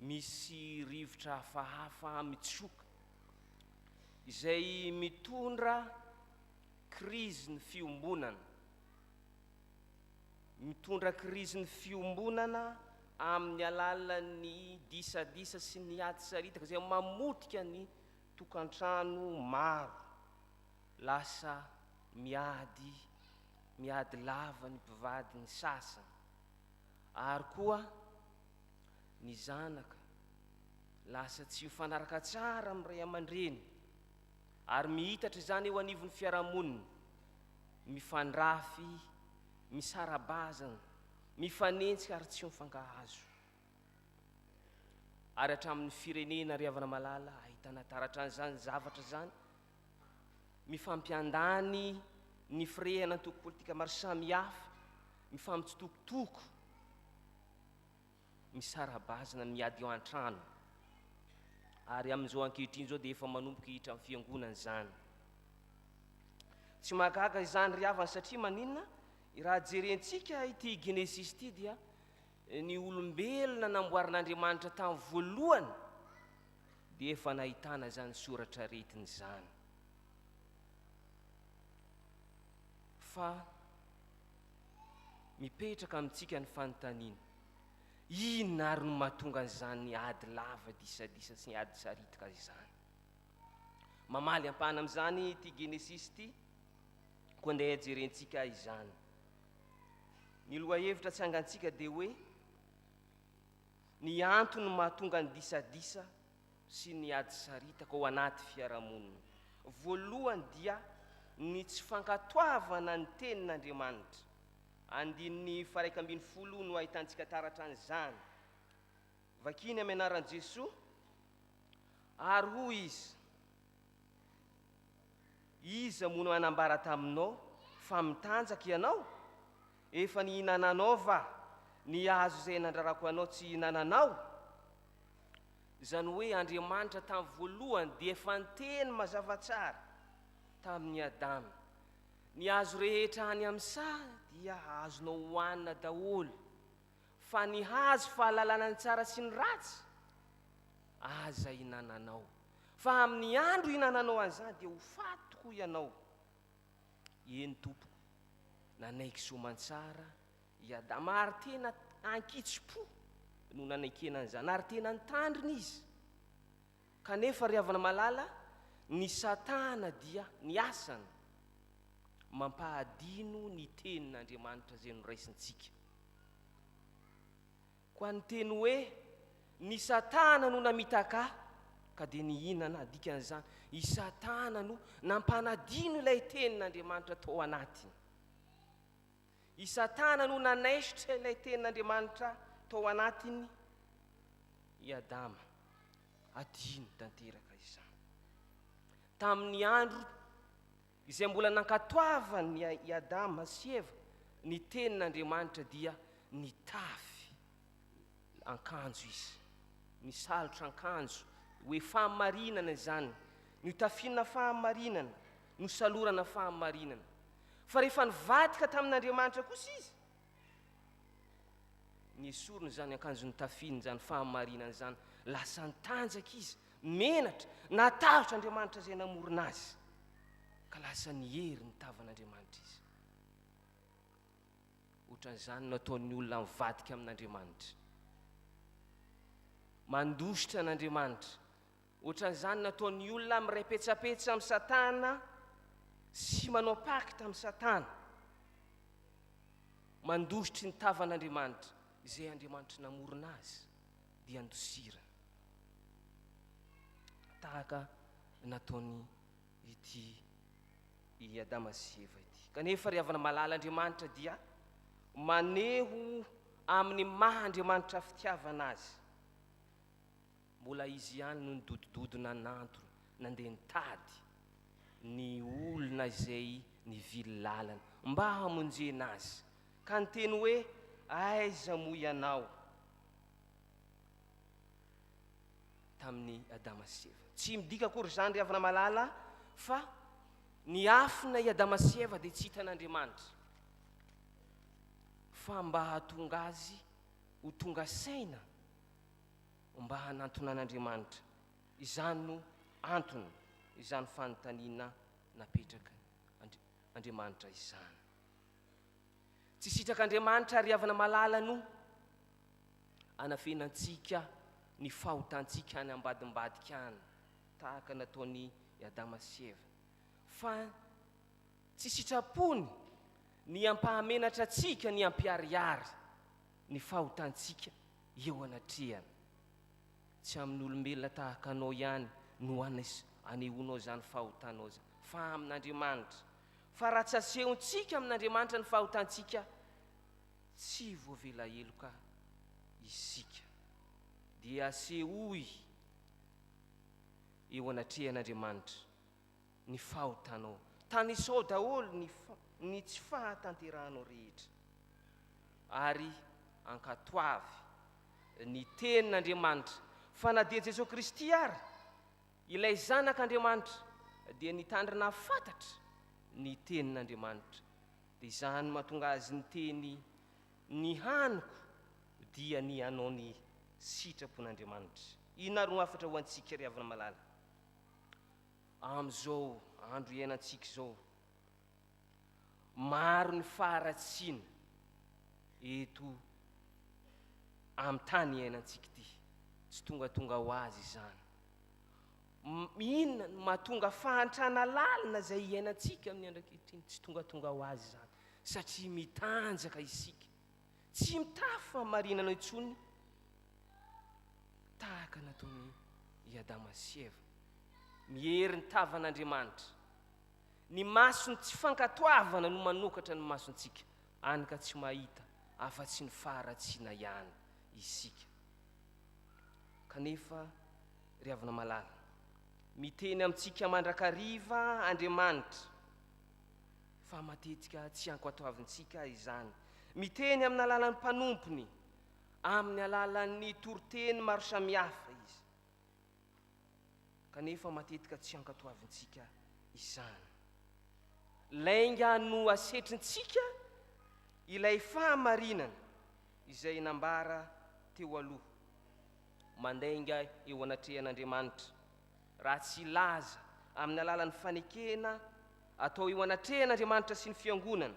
Misy rivotra hafahafa mitsoka izay mitondra krizin'ny fiombonana. Mitondra krizin'ny fiombonana amin'ny alalan'ny disadisa sy ny ady saritaka izay mamotika ny tokantrano maro. Lasa miady, miady lava ny mpivady ny sasany ary koa ny zanaka lasa tsy mifanaraka tsara amin'ny ray aman-dreny ary mihitatra izany eo anivon'ny fiarahamonina, mifandrafy, misara-bazana, mifanenjika ary tsy mifankahazo. Ary hatramin'ny firenena ry havana malala ahitana taratra an'izany zavatra izany, mifampiandany ny firehana antoko politika maro samihafa, mifampitsitokotoko, misara-bazana miady eo an-trano ary amin'izao ankehitriny izao dia efa manomboka hiditra amin'ny fiangonana izany. Tsy mahagaga izany ry havana satria maninona? Raha jerentsika ity Genesisy ity dia ny olombelona namboarin'Andriamanitra tamin'ny voalohany dia efa nahitana izany soratra aretina izany. Fa Mipetraka amintsika ny fanontaniana, inona àry no mahatonga an'izany ady lava disadisa sy ady saritika izany? Mamaly ampahana amin'izany ity Genesisy ity, koa andeha jerentsika izany. Ny lohahevitra tsangantsika dia hoe, Ny antony mahatonga ny disadisa sy ny ady saritaka ao anaty fiarahamonina. Voalohany dia ny tsy fankatoavana ny tenin'Andriamanitra. Andininy faraika ambin'ny folo no ahitantsika taratra an'izany. Vakiny amin'ny anaran'i Jesoa, ary hoy izy, Iza moa no nanambara taminao fa mitanjaka ianao? Efa nihinananao va ny hazo izay nandrarako anao tsy hihinananao? Izany hoe Andriamanitra tamin'ny voalohany dia efa niteny mazava tsara tamin'i Adama, Ny hazo rehetra any amin'ny saha dia azonao hohanina daholo, fa ny hazo fahalalana ny tsara sy ny ratsy, aza hinananao, fa amin'ny andro ihinananao an'izany dia ho faty tokoa ianao. Eny tompoko, nanaiky soamantsara i Adama ary tena ankitsi-po no nanekena an'izany ary tena nitandrina izy. Kanefa ry havana malala, ny Satana dia ny asany mampahadino ny tenin'Andriamanitra izay noraisintsika. Koa ny teny hoe, Ny Satana no namitaka ahy, ka dia nihinana, dikan'izany, i Satana no nampanadino ilay Tenin'Andriamanitra tao anatiny. I Satana no nanaisotra ilay Tenin'Andriamanitra tao anatiny i Adama. Adino tanteraka izany. Tamin'ny andro Izay mbola nankatoavan' i Adama sy Eva ny tenin' Andriamanitra dia nitafy ankanjo izy, nisalotra ankanjo, hoe fahamarinana izany, niotafiana fahamarinana, nosalorana fahamarinana. Fa rehefa nivadika tamin' Andriamanitra kosa izy Ny sorony izany ankanjo nitafiny izany fahamarinana izany, lasa nitanjaka izy, menatra, natahotra Andriamanitra izay namorona azy, ka lasa niery ny tavan'Andriamanitra izy. Ohatran'izany no ataon'ny olona mivadika amin'Andriamanitra. Mandositra an'Andriamanitra, Ohatran'izany nataon'ny olona mirepetsapetsa amin'i Satana sy manao pakta amin'i Satana, mandositry ny tavan'Andriamanitra, izay Andriamanitra namorona azy, dia andosiriny. Tahaka nataony ity i Adama sy Eva ity. Kanefa ry havana malala Andriamanitra dia maneho amin'ny maha Andriamanitra fitiavana azy. Mbola izy ihany no nidodododona nantona nandeha nitady ny olona izay nivily lalana mba hamonjena azy ka niteny hoe aiza moa ianao tamin'i Adama sy Eva. Tsy midika akory izany ry havana malala fa niafina i Adama sy Eva dia tsy hitan'Andriamanitra fa mba hahatonga azy ho tonga saina Mba hanantonan'Andriamanitra. Izany no antony izany fanontaniana napetraka Andriamanitra izany. Tsy sitrak'Andriamanitra ry havana malala no anafenantsika ny fahotantsika any ambadimbadika any tahaka nataon'i Adama sy Eva, fa tsy sitrapony ny hampahamenatra antsika ny hampiharihary ny fahotantsika eo anatrehany. Tsy amin'olombelona tahaka anao ihany no anehoanao izany fahotanao izany, fa amin'Andriamanitra. Fa raha tsy asehontsika amin'Andriamanitra ny fahotantsika, tsy voavela heloka isika. Dia asehoy eo anatrehan'Andriamanitra. ny fahotanao. Tanisao daholo ny ny tsy fahatanterahanao rehetra ary ankatoavy ny Tenin'Andriamanitra fa na dia Jesoa Kristy ary, ilay Zanak'Andriamanitra, dia nitandrina hafantatra ny Tenin'Andriamanitra, dia izany no mahatonga Azy niteny, Ny haniko dia ny hanao ny sitrapon'Andriamanitra. Inona ary no hafatra ho antsika ry havana malala? Amin'izao andro iainantsika izao, maro ny faharatsiana eto amin'ny tany iainantsika ity. Tsy tongatonga ho azy izany. Inona no mahatonga fahantrana lalina izay iainantsika amin'ny andro ankehitriny? Tsy tongatonga ho azy izany, satria mitanjaka isika. Tsy mitafy fahamarinana intsony tahaka nataony i Adama sy Eva. Miery ny tavan'Andriamanitra. Ny mason'ny tsy fankatoavana no manokatra ny masontsika, any ka tsy mahita afa-tsy ny faharatsiana ihany isika. Kanefa, ry havana malala, miteny amintsika mandrakariva Andriamanitra. fa matetika tsy ankoatoavintsika izany. Miteny amin'ny alalan'ny mpanompony, amin'ny alalan'ny toriteny maro samihafa izy, kanefa matetika tsy ankatoavintsika izany. Lainga no asetrintsika ilay fahamarinana izay nambara teo aloha, mandainga eo anatrehan'Andriamanitra raha tsy hilaza amin'ny alalan'ny fanekena atao eo anatrehan'Andriamanitra sy ny Fiangonana,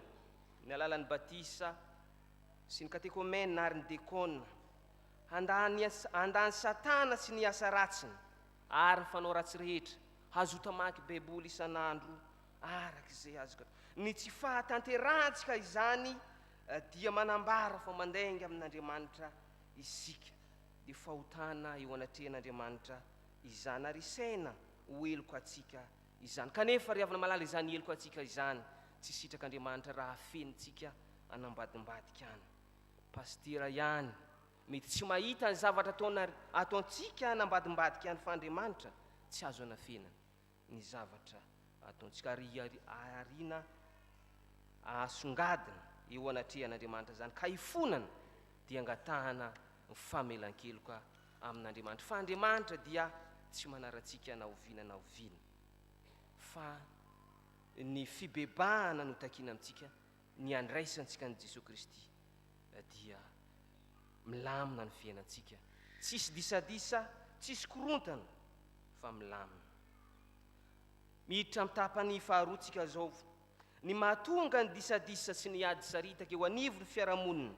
ny alalan'ny batisa sy ny katekomena ary ny dekona, handà ny, handà an'i Satana sy ny asa ratsiny ary ny fanao ratsy rehetra, hazota mamaky Baiboly isan'andro araka izay azoko atao. Ny tsy fahatanterahantsika izany dia manambara fa mandainga amin'Andriamanitra isika. dia fahotana eo anatrehan'Andriamanitra izany, ary isaina ho heloka antsika izany. Kanefa, ry havana malala, izany heloka antsika izany tsy sitrak'Andriamanitra raha afenintsika an'ambadimbadika any. Pasitera ihany mety tsy mahita ny zavatra ataontsika an'ambadimbadika any, fa Andriamanitra tsy azo anafenina. ny zavatra ataontsika, ary hiarina ahasongadina eo anatrehan'Andriamanitra izany, ka hifonana dia angatahana ny famelan-keloka amin'Andriamanitra, fa Andriamanitra dia tsy manaratsika na oviana na oviana, fa ny fibebahana no takiana amintsika, Ny handraisantsika an'i Jesoa Kristy dia milamina ny fiainantsika, tsisy disadisa, tsisy korontana fa milamina. Miditra amin'ny tapany faharoa tsika zao, ny mahatonga ny disadisa sy ny ady saritaka eo anivon'ny fiarahamonina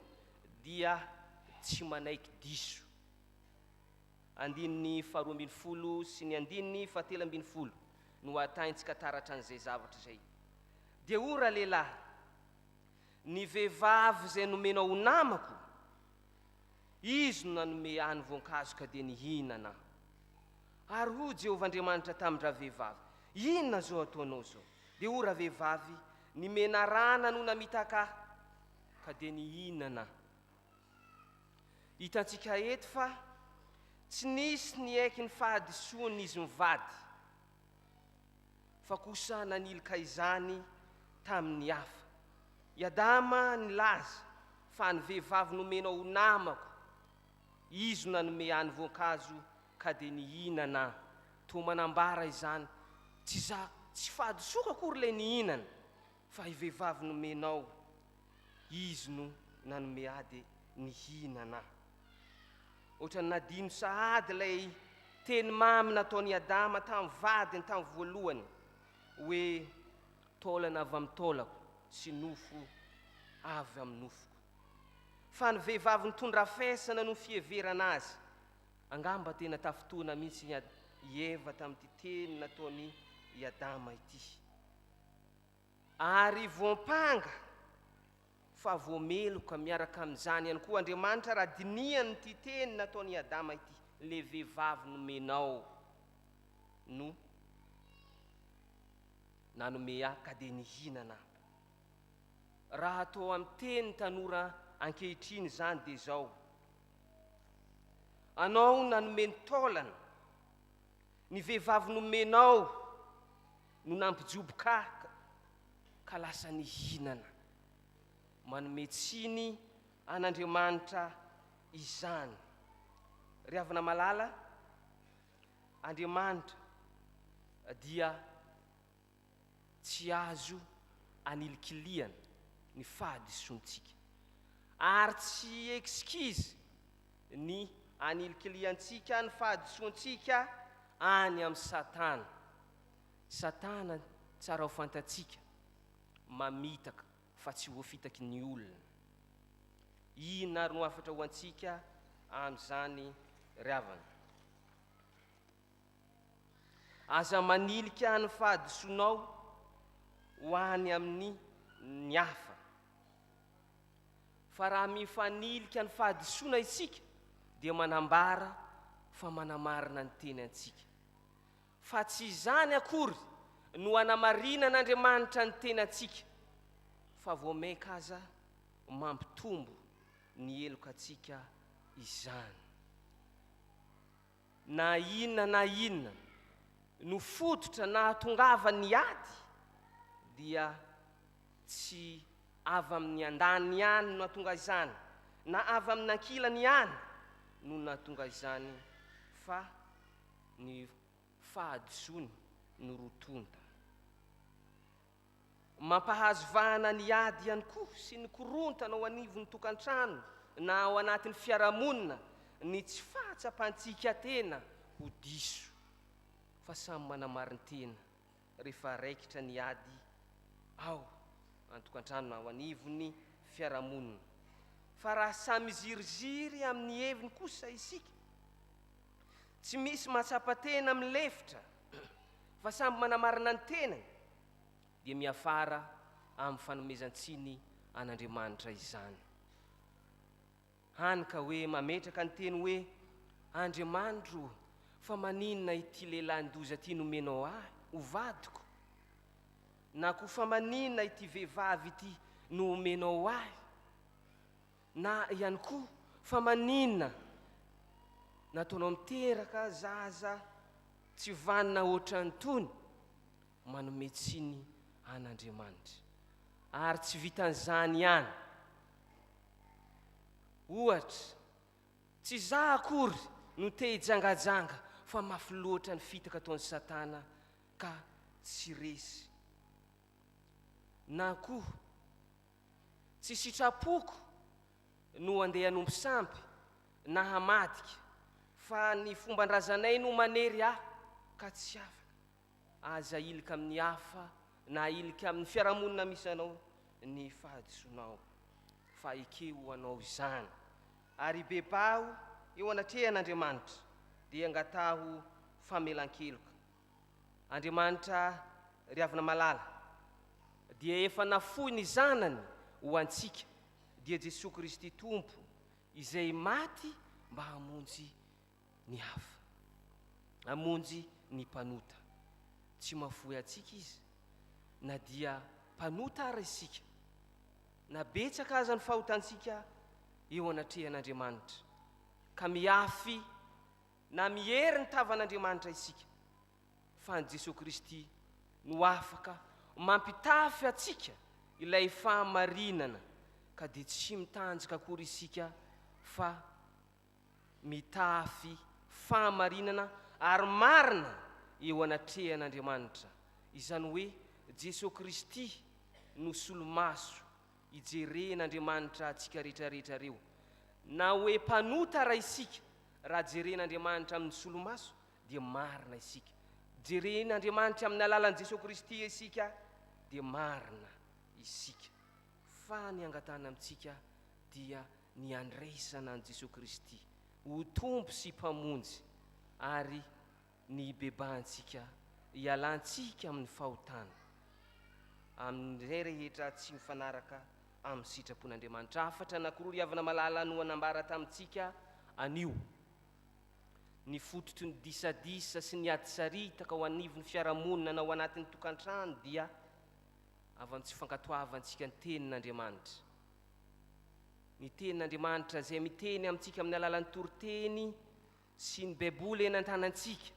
dia tsy manaiky diso. Andininy faharoa ambin'ny folo sy ny andininy fahatelo ambin'ny folo no ahatahintsika taratra an'izay zavatra izay. Dia o ralehilahy, ny vehivavy izay nomenao ho namako, izy no nanome ahy ny voankazo ka dia nihinana aho. Ary hoy Jehovah Andriamanitra tamin-dravehivavy, Inona izao ataonao izao? Dia o ravehivavy, ny menarana no namitaka ahy, ka dia nihinana aho. Hitantsika eto fa tsy nisy niaiky ny fahadisoany izy mivady, fa kosa nanilika izany tamin'ny hafa. I Adama nilaza fa ny vehivavy nomena ho namako, izo nanome any voankazo ka dia nihinana aho. Toa manambara izany, tsy izaho, tsy fahadisoako akory ilay nihinana. Fa i vehivavy nomenao izy no nanome ahy dia nihinana aho. Ohatran'ny nadino sahady ilay teny mamy nataon'i Adama tamin'ny vadiny tamin'ny voalohany hoe, Taolana avy amin'ny taolako sy nofo avy amin'ny nofoko. Fa ny vehivavy nitondra hafesana no fiheverana azy. Angamba tena tafintohina mihitsy i Eva tamin'ity teny nataon'i Adama ity. Ary voampanga fa voameloka miaraka amin'izany ihany koa Andriamanitra raha dinihany ity teny nataon'i Adama ity, Ilay vehivavy nomenao no nanome ahy ka dia nihinana aho. Raha atao amin'ny teny tanora ankehitriny izany dia izao, Anao nanome ny taolana, ny vehivavy nomenao No nampijoboka ahy ka lasa nihinana. Manome tsiny an'Andriamanitra izany. Ry havana malala, Andriamanitra dia tsy azo anilikilihana ny fahadisoantsika. Ary tsy excuse ny anilikilihantsika ny fahadisoantsika any amin'i Satana. Satana tsara ho fantatsika, mamitaka fa tsy voafitaky ny olona. Inona ary no hafatra ho antsika amin'izany ry havana? Aza manilika ny fahadisoanao ho any amin'ny ny hafa. Fa raha mifanilika ny fahadisoana isika dia manambara fa manamarina ny teny antsika. Fa tsy izany akory no anamarinan'Andriamanitra ny tenantsika, fa vao mainka aza mampitombo ny helokantsika izany. Na inona na inona no fototra nahatongavan'ny ady, dia tsy avy amin'ny andaniny ihany no nahatonga izany, na avy amin'ny ankilany ihany no nahatonga izany, fa ny fahadisoany no rotoiny tany. Mampahazo vahana ny ady ihany koa sy ny korontana ao anivon'ny tokantrano na ao anatin'ny fiarahamonina ny tsy fahatsapan-tsikatena ho diso fa samy manamarin-tena. rehefa raikitra ny ady ao an-tokantrano na ao anivon'ny fiarahamonina. Fa raha samy miziriziry amin'ny heviny kosa isika, tsy misy mahatsapa tena milefitra fa samy manamarina ny tenany, dia miafara amin'ny fanomezan-tsiny an'Andriamanitra izany. Hany ka hoe mametraka ny teny hoe, Andriamanitro ô, fa maninona ity lehilahin-doza ity nomenao ahy ho vadiko? na koa fa maninona ity vehivavy ity no omenao ahy? na ihany koa fa maninona nataonao miteraka zaza tsy vanona hoatran'itony? manome tsiny an'Andriamanitra. Ary tsy vitan'izany ihany. Ohatra, tsy izaho akory no te hijangajanga fa mafy loatra ny fitaka ataon'i Satana ka tsy resy. Na koa, tsy sitrapoko no andeha hanompo sampy na hamadika fa ny fomban-drazanay no manery ahy ka tsy afaka. Aza ahilika amin'ny hafa na ahilika amin'ny fiarahamonina misy anao ny fahadisoanao, fa ekeo anao izany, ary bebaho eo anatrehan'Andriamanitra, dia angataho famelan-keloka. Andriamanitra ry Havana Malala dia efa nafoy ny Zanany ho antsika, dia Jesoa Kristy Tompo, izay maty mba hamonjy ny hafa. Hamonjy ny mpanota. Tsy mahafoy antsika Izy, na dia mpanota àry isika, na betsaka aza ny fahotantsika eo anatrehan'Andriamanitra, ka mihafy na miery ny tavan'Andriamanitra isika, fa an'i Jesoa Kristy no afaka mampitafy antsika ilay fahamarinana, ka dia tsy mitanjaka akory isika fa. mitafy fahamarinana ary marina eo anatrehan'Andriamanitra, izany hoe Jesoa Kristy no solomaso ijeren'Andriamanitra antsika rehetrarehetra reo. Na hoe mpanota ara isika, raha jeren'Andriamanitra amin'ny solomaso dia marina isika. Jeren'Andriamanitra amin'ny alalan'i Jesoa Kristy isika dia marina isika, fa ny angatahany amintsika dia ny handraisana an'i Jesoa Kristy ho Tompo sy Mpamonjy ary ny hibebahantsika hialantsika amin'ny fahotana amin'izay rehetra tsy mifanaraka amin'ny sitrapon'Andriamanitra. Hafatra anankiroa ry havana malala no hanambara tamintsika anio ny fototry ny disadisa sy ny ady saritaka ao anivon'ny fiarahamonina na ao anatin'ny tokantrano dia avy amin'ny tsy fankatoavantsika ny Tenin'Andriamanitra. ny Tenin'Andriamanitra izay miteny amintsika amin'ny alalan'ny toriteny sy ny Baiboly eny an-tanantsika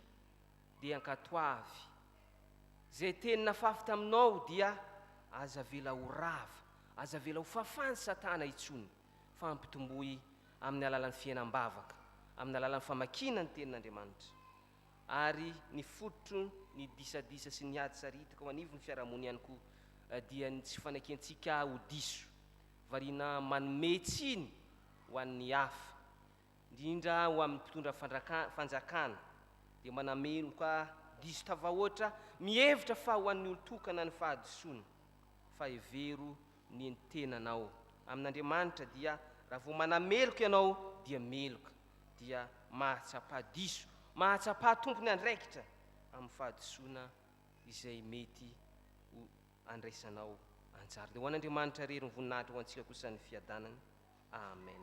dia ankatoavy. Izay teny nafafy taminao dia aza avela ho rava, aza avela ho fafan'i Satana intsony, fa ampitomboy amin'ny alalan'ny fihenam-bavaka, amin'ny alalan'ny famakiana ny Tenin'Andriamanitra. ary ny fototry ny disadisa sy ny ady sariitaka ao anivon'ny fiarahamonina ihany koa dia ny tsy fanakiantsika ho diso, variana manome tsiny ho an'ny hafa, indrindra ho amin'ny mpitondra fanjakana, dia manameloka diso tafahoatra, mihevitra fa ho an'ny olon-tokana ny fahadisoana, fa hevero ny tenanao amin'Andriamanitra dia raha vao manameloka ianao dia meloka. dia mahatsapa diso, mahatsapa tompony andraikitra amin'ny fahadisoana izay mety ho andraisanao anjara. Dia ho an'Andriamanitra irery ny voninahitra, ho antsika kosa ny fiadanana. Amen.